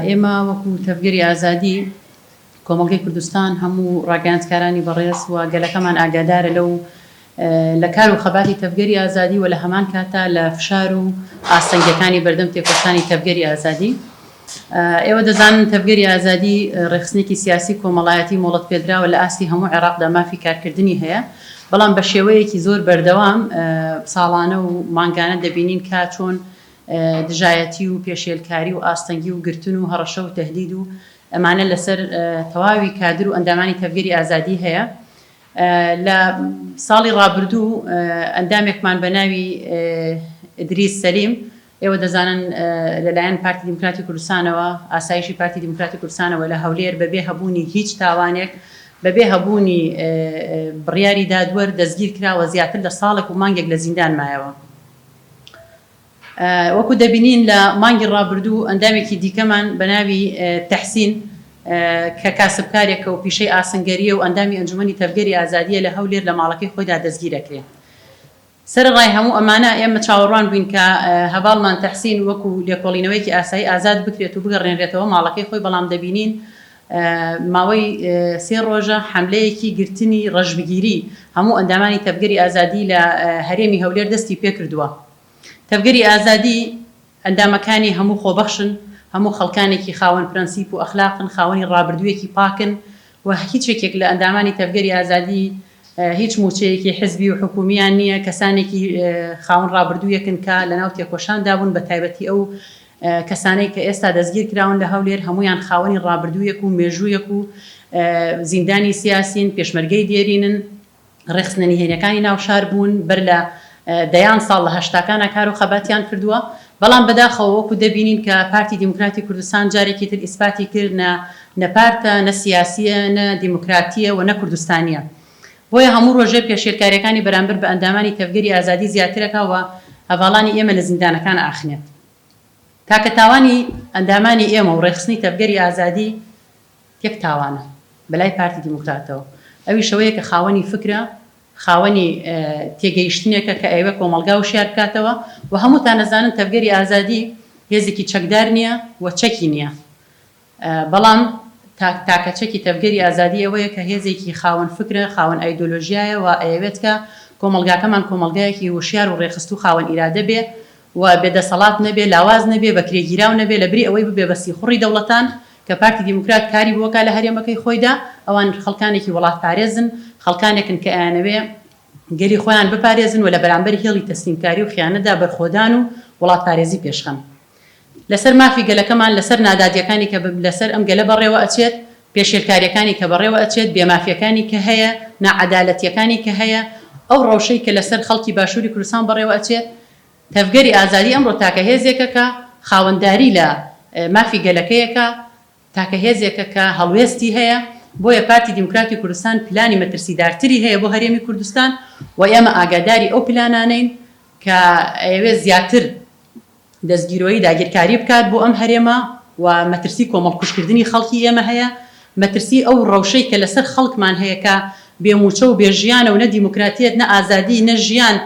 ئێمە وەکو تەڤگەری ئازادی کۆمەڵگەی کوردستان هەموو ڕاگەیاندکارانی بەڕێز و گەلەکەمان ئاگادارە لەو لە کار و خەباتی تەڤگەری ئازادی و لە هەمان کاتدا لە فشار و ئاستەنگیەکانی بەردەم تێکۆشانی تەڤگەری ئازادی ئێوە دەزانن تەڤگەری ئازادی ڕێخستنێکی سیاسی کۆمەڵایەتی مۆڵەت پێدراوە لە ئاستی هەموو عێراقدا مافی کارکردنی هەیە بەڵام بە شێوەیەکی زۆر بەردەوام ساڵانە و مانگانە دەبینین کا چۆن دژایەتی و پێشێلکاری و ئاستەنگی و گرتن و هەڕەشە و تەهدید و ئەمانە لەسەر تەواوی کادر و ئەندامانی تەڤگەری ئازادی هەیە لە ساڵی ڕابردوو ئەندامێکمان بە ناوی ئدریس سەلیم ئێوە دەزانن لەلایەن پارتی دیموکراتی کوردستانەوە ئاسایشی پارتی دیموکراتی کوردستانەوە لە هەولێر بەبێ هەبوونی هیچ تاوانێک بەبێ هەبوونی بڕیاری دادوەر دەستگیر کراوە زیاتر لە ساڵێک و مانگێک لە زیندان مایەوە وەکو دەبینین لە مانگی ڕابردوو ئەندامێکی دیکەمان بە ناوی تەحسین کە کاسبکارێکە و پیشەی ئاسنگەرییە و ئەندامی ئەنجومەنی تەڤگەری ئازادییە لە هەولێر لە ماڵەکەی خۆیدا دەستگیر ئەکرێ. سەرەڕای هەموو ئەمانە ئێمە چاوەڕوان بووین کە هەڤاڵمان تەحسین وەکو لێکۆڵینەوەیەکی ئاسایی ئازاد بکرێت و بگەڕێنرێتەوە ماڵەکەی خۆی بەڵام دەبینین ماوەی سێ ڕۆژە حەملەیەکی گرتنی ڕەشبگیری هەموو ئەندامانی تەڤگەری ئازادی لە هەرێمی هەولێر دەستی پێکردووە. تەڤگەری ئازادی ئەندامەکانی هەموو خۆبەخشن، هەموو خەڵکانێکی خاوەن پرەنسیپ و ئەخلاقن، خاوەنی ڕابردوویەکی پاکن و هیچ یەکێک لە ئەندامانی تەڤگەری ئازادی هیچ مووچەیەکی حزبی و حکوومییان نییە، کەسانێکی خاوەن ڕابردوویەکن کە لەناو تێکۆشاندا بوون بەتایبەتی ئەو کەسانەی کە ئێستا دەستگیرکراون لە هەولێر هەموویان خاوەنی ڕابردوویەک و مێژوویەک و زیندانی سیاسین، پێشمەرگەی دێرینن، ڕێکخستنە نهێنیەکانی ناو شار بوون، بەر لە دەیان ساڵ لە هەشتاکانا کار و خەباتیان کردووە، بەڵام بەداخەوە وەکو دەبینین کە پارتی دیموکراتی کوردستان جارێکی تر ئیسپاتی کرد نە پارتە، نە سیاسیە، نە دیموکراتیە و نە کوردستانیە. بۆیە هەموو ڕۆژێ پێشێلکاریەکانی بەرامبەر بە ئەندامانی تەڤگەری ئازادی زیاترەکا و هەڤاڵانی ئێمە لە زیندانەکان ئاخنێت. تاکە تاوانی ئەندامانی ئێمە و ڕێکخستنی تەڤگەری ئازادی یەک تاوانە بە لای پارتی دیموکراتەوە ئەویش ئەوەیە کە خاوەنی فکرە، خاوەنی تێگەیشتنێکە کە ئەیەوێ کۆمەڵگا وشیار بکاتەوە و هەمووتان ئەزانن تەڤگەری ئازادی هێزێکی چەکدار نیە و چەکی نیە. بەڵام تاک تاکە چەکی تەڤگەری ئازادی ئەوەیە کە هێزێکی خاوەن فکرە، خاوەن ئایدۆلۆژیایە و ئەیەوێت کە کۆمەڵگاکەمان کۆمەڵگایەکی وشیار و ڕێکخستوو خاوەن ئیرادە بێ و بێ دەسەڵات نەبێ، لاواز نەبێ، بەکرێگیراو نەبێ، لە بری ئەوەی ببێ بە سیخوڕی دەوڵەتان کە پارتی دیموکرات کاری بۆ ئەکا لە هەرێمەکەی خۆیدا، ئەوان خەڵکانێکی وەڵاتپارێزن، خەڵکانێکن کە ئەیانەوێ گەلی خۆیان بپارێزن و لە بەرامبەر هێڵی تەسلیمکاری و خیانەتدا بەرخۆدان و وڵاتپارێزی پێشخەن. لەسەر مافی گەلەکەمان، لەسەر نادادیەکانی کە لەسەر ئەم گەلە بەڕێوە ئەچێت، پێشێلکاریەکانی کە بەڕێوە ئەچێت، بێ مافیەکانی کە هەیە، ناعەدالەتیەکانی کە هەیە، ئەو ڕەوشەی کە لەسەر خەڵکی باشوری کوردستان بەڕێوە ئەچێت، تەڤگەری ئازادی ئەمڕۆ تاکە هێزێکە کە خاوەنداری لە مافی گەلەکەیەکە، تاکە هێزێکە کە هەڵوێستی هەیە، بۆیە پارتی دیموکراتی کوردستان پلانی مەترسیدارتری هەیە بۆ هەرێمی کوردستان و ئێمە ئاگاداری ئەو پلانانەین کە ئەیەوێت زیاتر دەستگیرۆیی داگیرکاری بکات بۆ ئەم هەرێمە و مەترسی کۆمەڵکوژکردنی خەڵکی ئێمە هەیە، مەترسی ئەو ڕەوشەی کە لەسەر خەڵکمان هەیە کە بێ مووچە و بێ ژیانە و نە دیموکراتیەت نە ئازادی نە ژیان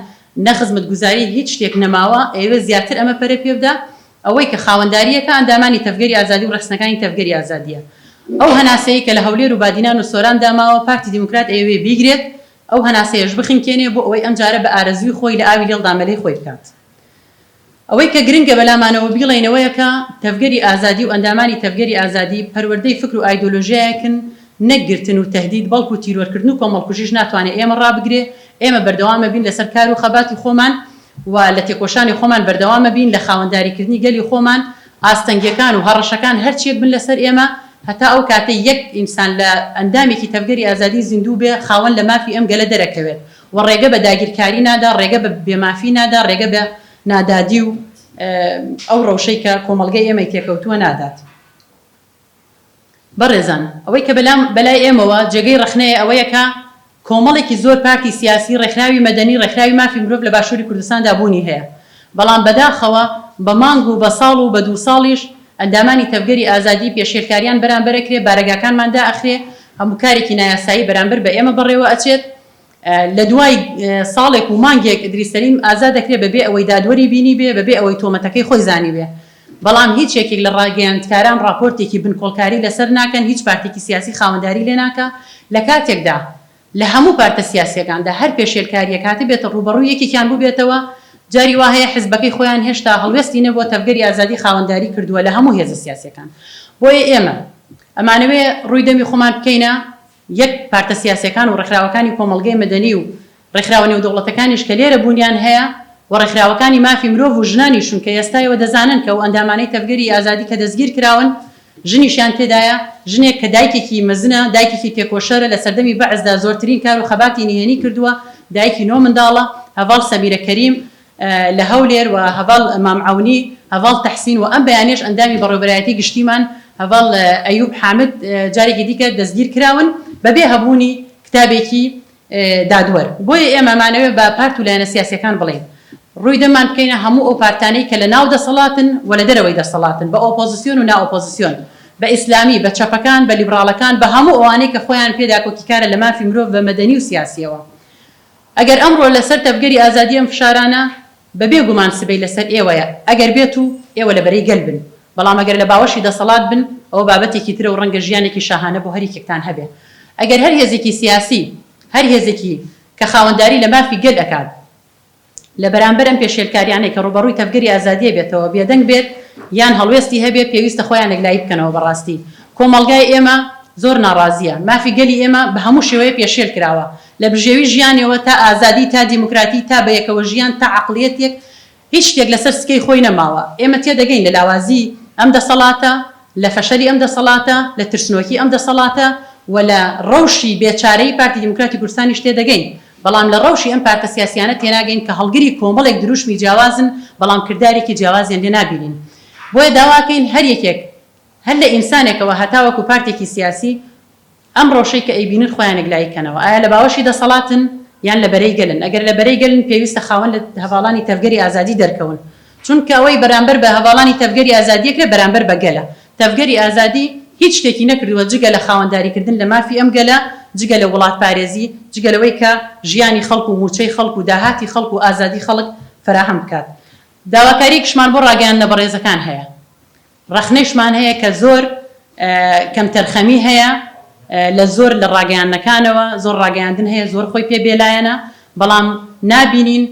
نە خزمەتگوزاری هیچ شتێک نەماوە، ئەیەوێت زیاتر ئەمە پەرە پێبدا، ئەوەی کە خاوەنداریەکە ئەندامانی تەڤگەری ئازادی و ڕێخستنەکانی تەڤگەری ئازادیە. ئەو هەناسەیەی کە لە هەولێر و بادینان و سۆراندا ماوە پارتی دیموکرات ئەیەوێ بیگرێت، ئەو هەناسەیەش بخنکێنێ بۆ ئەوەی ئەمجارە بە ئارەزووی خۆی لە ئاوی لێڵدا مەلەی خۆی بکات. ئەوەی کە گرنگە بەلامانەوە بیڵێینەوەیە کە تەڤگەری ئازادی و ئەندامانی تەڤگەری ئازادی پەروەردەی فکر و ئایدۆلۆژیایەکن نەک گرتن و تەهدید بەڵکو تیرۆرکردن و کۆمەڵکوژیش ناتوانێ ئێمە ڕابگرێ ئێمە بەردەوامەبین لەسەر کار و خەباتی خۆمان و لە تێکۆشانی خۆمان بەردەوامەبین لە خاوەنداریکردنی گەلی خۆمان ئاستەنگیەکان و هەڕەشەکان هەرچیەک بن لەسەر ئێمە هەتا ئەو کاتەی یەک ئینسان لە ئەندامێکی تەڤگەری ئازادی زیندوو بێ خاوەن لە مافی ئەم گەلە دەرەکەوێت و ڕێگە بە داگیرکاری نادا، ڕێگە بە بێ مافی نادا، ڕێگە بە نادادی و ئەو ڕەوشەی کە کۆمەڵگەی ئێمەی تێکەوتووە نادات. بەڕێزان ئەوەی کە بەلام بەلای ئێمەوە جێگەی ڕەخنەیە ئەوەیە کە کۆمەڵێکی زۆر پارتی سیاسی، ڕێکخراوی مەدەنی، ڕێکخراوی مافی مرۆڤ لە باشووری کوردستاندا بوونی هەیە، بەڵام بەداخەوە بە مانگ و بە ساڵ و بە دوو ساڵیش ئەندامانی تەڤگەری ئازادی پێشێلکاریان بەرامبەرەکرێ، بارەگاکانمان دائەخرێ، هەموو کارێکی نایاسایی بەرامبەر بە ئێمە بەڕێوە ئەچێت. لە دوای ساڵێک و مانگێک ئیدریس سەلیم ئازاد دەکرێت بەبێ ئەوەی دادوەری بینیبێ، بەبێ ئەوەی تۆمەتەکەی خۆی زانیبێ. بەڵام هیچ یەکێک لە ڕاگەیاندکاران ڕاپۆرتێکی بنکۆڵکاری لەسەر ناکەن، هیچ پارتێکی سیاسی خاوەنداری لێ ناکا، لە کاتێکدا لە هەموو پارتە سیاسییەکاندا هەر پێشێلکارییەک هاتبێتە ڕووبەڕووی یەکێکیان بووبێتەوە، جاری وا هەیە حزبەکەی خۆیان هێشتا هەڵوێستی نەبووە، تەڤگەری ئازادی خاوەنداری کردووە لە هەموو هێزە سیاسییەکان. بۆیە ئێمە ئەمانەوێ ڕووی دەمی خۆمان بکەینە یەک، پارتە سیاسیەکان و ڕێکخراوەکانی کۆمەڵگەی مەدەنی و ڕێکخراوە نێودەوڵەتەکانیش کە لێرە بوونیان هەیە و ڕێکخراوەکانی مافی مرۆڤ و ژنانیشن کە ئێستایەوە دەزانن کە ئەو ئەندامانەی تەڤگەری ئازادی کە دەستگیر کراون ژنیشیان تێدایە، ژنێک کە دایکێکی مەزنە، دایکێکی تێکۆشەرە، لە سەردەمی بەعسدا زۆرترین کار و خەباتی نهێنی کردووە، دایکی نۆ منداڵە، هەڤاڵ سەمیرە کەریم، لە هەولێر و هەڤاڵ مام عەونی، هەڤاڵ تەحسین و ئەم بەیانیەش ئەندامی بەڕێوەبەرایەتی گشتیمان هەڤاڵ ئەیوب حامد جارێکی دیکە دەستگیر کراون بەبێ هەبوونی کتابێکی دادوەر. بۆیە ئێمە مانەوێ بە پارت و لایەنە سیاسیەکان بڵێین ڕووی دەممان بکەینە هەموو ئەو پارتانەی کە لە ناو دەسەڵاتن و لە دەرەوەی دەسەڵاتن، بە ئۆپۆزسیۆن و نا ئۆپۆزسیۆن، بە ئیسلامی، بە چەپەکان، بە لیبڕاڵەکان، بە هەموو ئەوانەی کە خۆیان پێ داکۆکیکارە لە مافی مرۆڤ بە مەدەنی و سیاسیەوە. ئەگەر ئەمڕۆ لەسەر تەڤگەری ئازادی ئەم فشارانە، بەبێ گومان سبەی لەسەر ئێوەیە، ئەگەر بێت و ئێوە لە بەرەی گەل بن، بەڵام ئەگەر لە باوەشی دەسەڵات بن، ئەوە بابەتێکی ترە و ڕەنگە ژیانێکی شاهانە بۆ هەریەکێکتان هەبێ. ئەگەر هەر هێزێکی سیاسی، هەر هێزێکی کە خاوەنداری لە مافی گەل ئەکات، لە بەرامبەر ئەم پێشێلکاریانەی کە ڕووبەڕووی تەڤگەری ئازادیی بێتەوە، بێدەنگ بێت یان هەڵوێستی هەبێ، پێویستە خۆیان یەکلایی بکەنەوە. بەڕاستی کۆمەڵگای ئێمە زۆر ناڕازییە. مافی گەلی ئێمە بە هەموو شێوەیە پێشێل کراوە. لە بژێوی ژیانیەوە تا ئازادی تا دیموکراتی تا بەیەکەوە ژیان تا عەقڵیەتێک هیچ شتێک لەسەر سکەی خۆی نەماوە ئێمە تێدەگەین لە لاوازی ئەم دەسەڵاتە لە فەشەلی ئەم دەسەڵاتە لە ترسنۆکی ئەم دەسەڵاتە وە لە ڕەوشی بێ چارەیی پارتی دیموکراتی کوردستانیش تێدەگەین بەڵام لە ڕەوشی ئەم پارتە سیاسیانە تێناگەین کە هەڵگری کۆمەڵێک دروشمی جیاوازن بەڵام کردارێکی جیاوازیان لێ نابینین بۆیە داواکەین هەر یەکێک هەر لە ئینسانێکەوە هەتاوەکو پارتێکی سیاسی ئەم ڕەوشەی کە ئەیبینن خۆیان یەکلایی کەنەوە، ئایا لە باوەشی دەسەڵاتن یان لە بەرەی گەلن؟ ئەگەر لە بەرەی گەلن پێویستە خاوەن لە هەڤاڵانی تەڤگەری ئازادی دەرکەون، چونکە ئەوەی بەرامبەر بە هەڤاڵانی تەڤگەری ئازادی ئەکرێت بەرامبەر بە گەلە. تەڤگەری ئازادی هیچ شتێکی نەکردووە جگە لە خاوەنداری کردن لە مافی ئەم گەلە، جگە لە وڵاتپارێزی، جگە لەوەی کە ژیانی خەڵک و مووچەی خەڵک و داهاتی خەڵک و ئازادی خەڵک فەراهەم بکات. داواکاریەکیشمان بۆ ڕاگەیاندنە بەڕێزەکان هەیە ڕەخنەیشمان هەیە کە زۆر کەمتەرخەمی هەیە لە زۆر لە ڕاگەیاندنەکانەوە، زۆر ڕاگەیاندن هەیە زۆر خۆی پێ بێلایەنە، بەڵام نابینین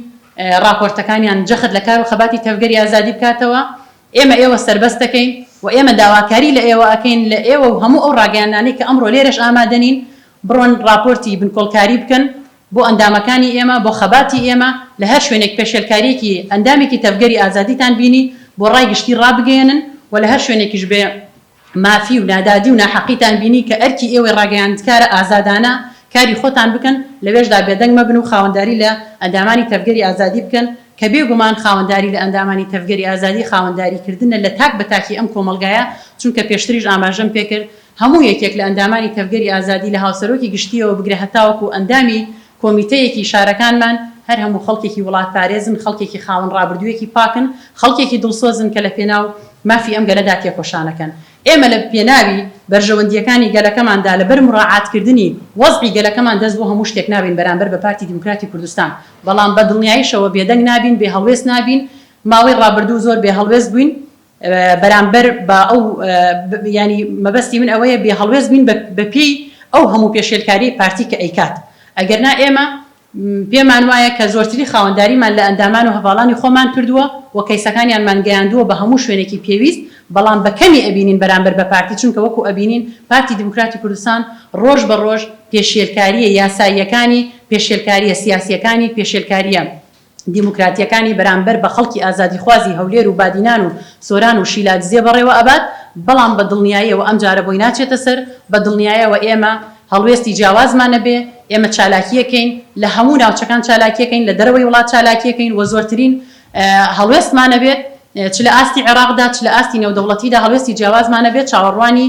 ڕاپۆرتەکانیان جەخت لە کار و خەباتی تەڤگەری ئازادی بکاتەوە، ئێمە ئێوە سەربەست دەکەین و ئێمە داواکاری لە ئێوە ئەکەین لە ئێوە و هەموو ئەو ڕاگەیاندنانەی کە ئەمڕۆ لێرەش ئامادەنین بڕۆن ڕاپۆرتی بنکۆڵکاری بکەن بۆ ئەندامەکانی ئێمە، بۆ خەباتی ئێمە، لە هەر شوێنێک پێشێلکارییەکی ئەندامێکی تەڤگەری ئازادیتان بینی، بۆ ڕای گشتی ڕابگەیەنن و لە هەر شوێنێکیش بێ مافی و نادادی و ناحەقیتان بینی کە ئەرکی ئێوەی ڕاگەیاندکارە ئازادانە کاری خۆتان بکەن، لەوێشدا بێدەنگ مەبن و خاوەنداری لە ئەندامانی تەڤگەری ئازادی بکەن، کە بێ گومان خاوەنداری لە ئەندامانی تەڤگەری ئازادی خاوەنداریکردنە لە تاک بە تاکی ئەم کۆمەڵگایە، چونکە پێشتریش ئاماژەم پێکرد، هەموو یەکێک لە ئەندامانی تەڤگەری ئازادی لە هاوسەرۆکی گشتییەوە بگرە هەتاوەکو ئەندامی کۆمیتەیەکی شارەکانمان، هەر هەموو خەڵکێکی وڵاتپارێزن، خەڵکێکی خاوەن ڕابردوویەکی پاکن، خەڵکێکی دڵسۆزن کە لە پێناو مافی ئەم گەلەدا تێکۆشانەکەن. ئێمە لە پێناوی بەرژەوەندییەکانی گەلەکەماندا لەبەر موراعاتکردنی وەزعی گەلەکەمان دەست بۆ هەموو شتێک نابەین بەرامبەر بە پارتی دیموکراتی کوردستان، بەڵام بە دڵنیایشەوە بێدەنگ نابین، بێهەڵوێست نابین، ماوەی ڕابردوو زۆر بێهەڵوێست بووین، بەرامبەر بە ئەو یانی مەبەستی من ئەوەیە بێ هەڵوێست بین بە پێی ئەو هەموو پێشێلکاریەی پارتی کە ئەیکات ئەگەرنا ئێمە پێمان وایە کە زۆرتری خاوەنداریمان لە ئەندامان و هەڤاڵانی خۆمان کردووە و کەیسەکانیانمان گەیاندووە بە هەموو شوێنێکی پێویست بەڵام بە کەمی ئەبینین بەرامبەر بە پارتی چونکە وەکو ئەبینین پارتی دیموکراتی کوردستان ڕۆژ بە ڕۆژ پێشێلکاریە یاساییەکانی پێشێلکاریە سیاسیەکانی پێشێلکاریە دیموکراتییەکانی بەرامبەر بە خەڵکی ئازادیخوازی هەولێر و بادینان و سۆران و شیلادزێ بەڕێوە ئەبات، بەڵام بە دڵنیاییەوە ئەمجارە بۆی ناچێتە سەر، بە دڵنیایەوە ئێمە هەڵوێستی جیاوازمان نەبێ، ئێمە چالاکییەکەین، لە هەموو ناوچەکان چالاکییەکەین، لە دەرەوەی وڵات چالاکییەکەین و زۆرترین هەڵوێستمان ئەبێت، چ لە ئاستی عێراقدا، چ لە ئاستی نێودەوڵەتیدا هەڵوێستی جیاوازمان ئەبێت، چاوەڕوانی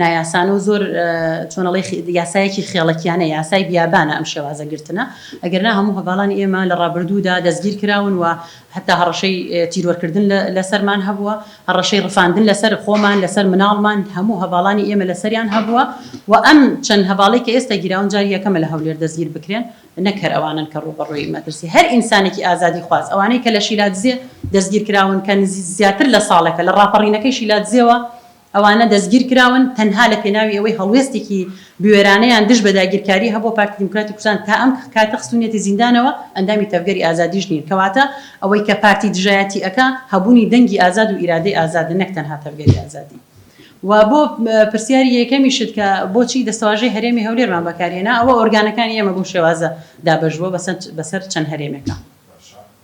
نایاسانە و زۆر چۆن ئەڵێی یاسایەکی خێڵەکیانە، یاسای بیابانە ئەم شێوازە گرتنە، ئەگەرنا هەموو هەڤاڵانی ئێمە لە ڕابردوودا دەستگیر کراون و هەتا هەڕەشەی تیرۆرکردن لەسەرمان هەبووە، هەڕەشەی ڕفاندن لەسەر خۆمان، لەسەر مناڵمان، هەموو هەڤاڵانی ئێمە لەسەریان هەبووە و ئەم چەند هەڤاڵەی کە ئێستا گیراون جاری یەکەمە لە هەولێر دەستگیر بکرێن، نەک هەر ئەوانەن کە ڕووبەڕووی مەترسی هەر ئینسانێکی ئازادیخواز، ئەوانەی کە لە شیلادزێ دەستگیر کراون کە زیاتر لە ساڵێکە لە ڕاپەڕینەکەی شیلادزێوە، ئەوانە دەستگیرکراون تەنها لە پێناوی ئەوەی هەڵوێستێکی بوێرانەیان دژ بە داگیرکاری هەبووە، پارتی دیموکراتی کوردستان تا ئەم کاتە خستوونیەتی زیندانەوە، ئەندامی تەڤگەری ئازادیش نین، کەواتە ئەوەی کە پارتی دژایەتی ئەکا هەبوونی دەنگی ئازاد و ئیرادەی ئازادە نەک تەنها تەڤگەری ئازادی. و بۆ پرسیاری یەکەمیشت کە بۆچی دەستەواژەی هەرێمی هەولێرمان بەکارهێنا، ئەوە ئۆرگانەکانی ئێمە بەو شێوازە دابەشبووە بەسەر چەند هەرێمێکا.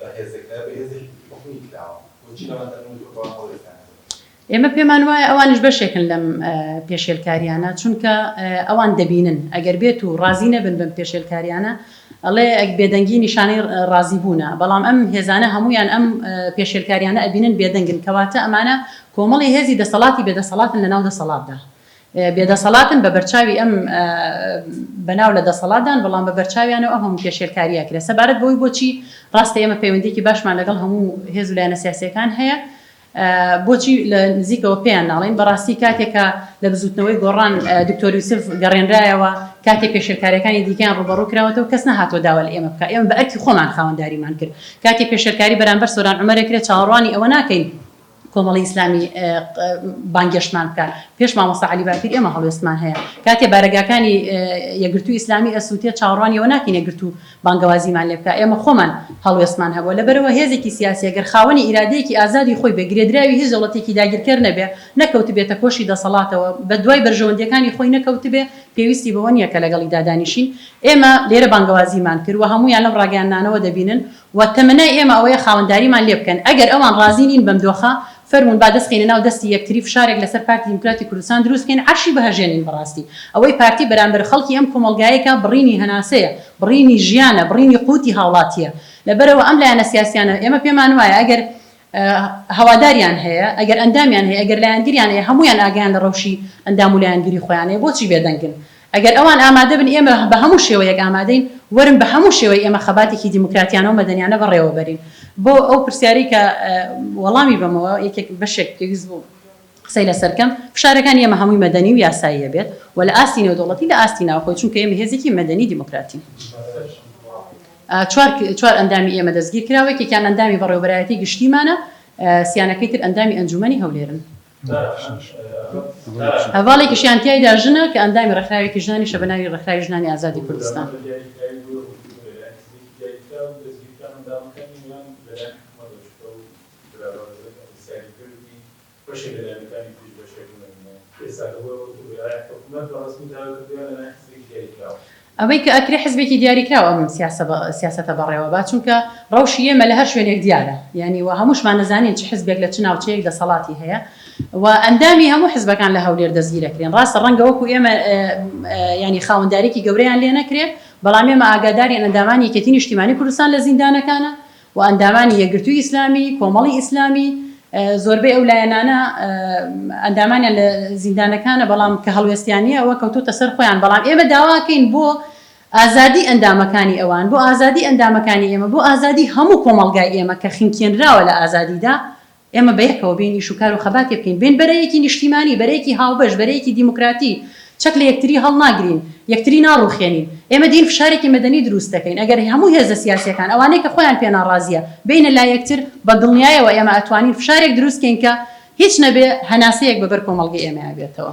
بەهێزەکە بەهێزێکی تیکنیکی کراوە بۆچی لەوان دەرون و جۆربەوان هەڵوێستیان نەدەن؟ ئێمە پێمان وایە ئەوانیش بەشێکن لەم پێشێلکاریانە چونکە ئەوان دەبینن ئەگەر بێت و ڕازی نەبن بەم پێشێلکاریانە ئەڵێ بێدەنگی نیشانەی ڕازی بوونە بەڵام ئەم هێزانە هەموویان ئەم پێشێلکاریانە ئەبینن بێدەنگن کەواتە ئەمانە کۆمەڵی هێزی دەسەڵاتی بێدەسەڵاتن لەناو دەسەڵاتدا بێدەسەڵاتن بەبەرچاوی ئەم بەناو لە دەسەڵاتدان بەڵام بەبەرچاویانەوە ئەم هەموو پێشێلکاریە کرێ سەبارەت بەوەی بۆچی ڕاستە ئێمە پەیوەندیکی باشمان لەگەڵ هەموو هێز و لایەنە سیاسیەکان هەیە بۆچی لە نزیکەوە پێیان ناڵین بەڕاستی کاتێکە لە بزوتنەوەی گۆڕان دکتۆر یوسف گەڕێنرایەوە کاتێک پێشێلکاریەکانی دیکەیان ڕوبەڕوو کراوەتەوە کەس نەهاتۆ داوە لە ئێمە بکە ئێمە بە ئەرکی خۆمان خاوەنداریمان کرد کاتێک پێشێلکاری بەرامبەر سۆران عمرێکرێت چاوەڕوانی ئەوە ناکەین کۆمەڵی ئیسلامی بانگێشتمان بکا پێش مامۆسا عەلی باپیر ئێمە هەڵوێستمان هەیە کاتێ بارەگاکانی یەکگرتوو ئیسلامی ئەسووتێ چاوەڕوانی ئەوە ناکەین یەکگرتوو بانگەوازیمان لێ بکا ئێمە خۆمان هەڵوێستمان هەبووە لەبەرەوە هێزێکی سیاسی گەر خاوەنی ئیرادەیەکی ئازادی خۆی بێ گرێدراوی هیچ دەوڵەتێکی داگیرکەر نەبێ نەکەوتبێتە کۆشی دەسەڵاتەوە بەدوای بەرژەوەندییەکانی خۆی نەکەوتبێ پێویستی بەوە نییە کە لەگەڵیدا دانیشین ئێمە لێرە بانگەوازیمان کرد و هەموویان لەم ڕاگەیاندنانەوە دەبینن و تەمەنای ئێمە ئەوەیە خاوەنداریمان لێ بکەن، ئەگەر ئەوان ڕازی نین بەم دۆخە، فەرموون با دەست بخەینە ناو دەستی یەکتری فشارێک لەسەر پارتی دیموکراتی کوردستان دروست بکەین عەرشی بهەژێنین بەڕاستی ئەوەی پارتی بەرامبەر خەڵکی ئەم کۆمەڵگایەی کا بڕینی هەناسەیە، بڕینی ژیانە، بڕینی قوتی هاوڵاتییە لەبەرئەوە ئەم لایەنە سیاسیانە ئێمە پێمان وایە ئەگەر هەواداریان هەیە، ئەگەر ئەندامیان هەیە، ئەگەر لایەنگریان هەیە، هەموویان ئاگایان لە ڕەوشی ئەندام و لایەنگری خۆیان هەیە، بۆچی بێدەنگن؟ ئەگەر ئەوان ئامادەبن ئێمە بە هەموو شێوەیەک ئامادەین، وەرن بە هەموو شێوەیەک ئێمە خەباتێکی دیموکراتیانە و مەدەنیانە بەڕێوەبەرین. بۆ ئەو پرسیارەی کە وەڵامی بەمەوە یەکێک بەشێک پێویست بوو. قسەی لەسەر کەم، فشارەکانی ئێمە هەمووی مەدەنی و یاساییە بێت و لە ئاستی نێودەوڵەتی لە ئاستی ناوخۆی، چونکە ئێمە هێزێکی مەدەنی دیموکراتین. چوار چوار ئەندامی ئێمە دەستگیر کراوە، یەکێکیان ئەندامی بەڕێوەبەرایەتی گشتیمانە، سیانەکەی تر ئەندامی ئەنجوومەنی هەولێرن. هەڤاڵێکیشیان تیایدا ژنە کە ئەندامی ڕێکخراوێکی ژنانیشە بە ناوی ڕێکخراوی ژنانی ئازادی کوردستان. برا بەڕێزت ئەو پرسیاری کرد وتی بەشێک لە لایەنەکانی تریش بەشێک لە نمونە ئێستا کە بۆ ئەوەی بڵێ ئایا حکومەت بە ڕەسمی داوای کردوویان لە لایەن حزبێکی دیاریکراو؟ ئەوەی کە ئەکرێ حزبێکی دیاریکراو ئەم سیاسەتە بەڕێوە با چونکە ڕەوشی ئێمە لە هەر شوێنێک دیارە یانی و هەمووشمان ئەزانین چ حزبێک لە چ ناوچەیەک دەسەڵاتی هەیە و ئەندامی هەموو حزبەکان لە هەولێر دەستگیر ئەکرێن ڕاستە ڕەنگە وەکو ئێمە یانی خاوەندارێکی گەورەیان لێ نەکرێ بەڵام ئێمە ئاگادارین ئەندامانی یەکێتی نیشتیمانی کوردستان لە زیندانەکانە و ئەندامانی یەکگرتووی ئیسلامی، کۆمەڵی ئیسلامی، زۆربەی ئەو لایەنانە ئەندامانیان لە زیندانەکانە بەڵام کە هەڵوێستیانی ئەوە کەوتۆتە سەر خۆیان بەڵام ئێمە داواکەین بۆ ئازادی ئەندامەکانی ئەوان بۆ ئازادی ئەندامەکانی ئێمە بۆ ئازادی هەموو کۆمەڵگای ئێمە کە خنکێنراوە لە ئازادیدا ئێمە بەیەکەوە بێین ئیش و کار و خەباتێ بکەین، بێین بەرەیەکی نیشتیمانی، بەرەیەکی هاوبەش، بەرەیەکی دیموکراتی، چەک لە یەکتری هەڵناگرین، یەکتری ناڕوخێنین. ئێمە دێین فشارێکی مەدەنی دروست دەکەین. ئەگەر هەموو هێزە سیاسیەکان، ئەوانەی کە خۆیان پێ ناڕازیە، بێینە لای یەکتر، بە دڵنیایەوە ئێمە ئەتوانین فشارێک دروست کەین کە هیچ نەبێ هەناسەیەک بە بەر کۆمەڵگەی ئێمەیا بێتەوە.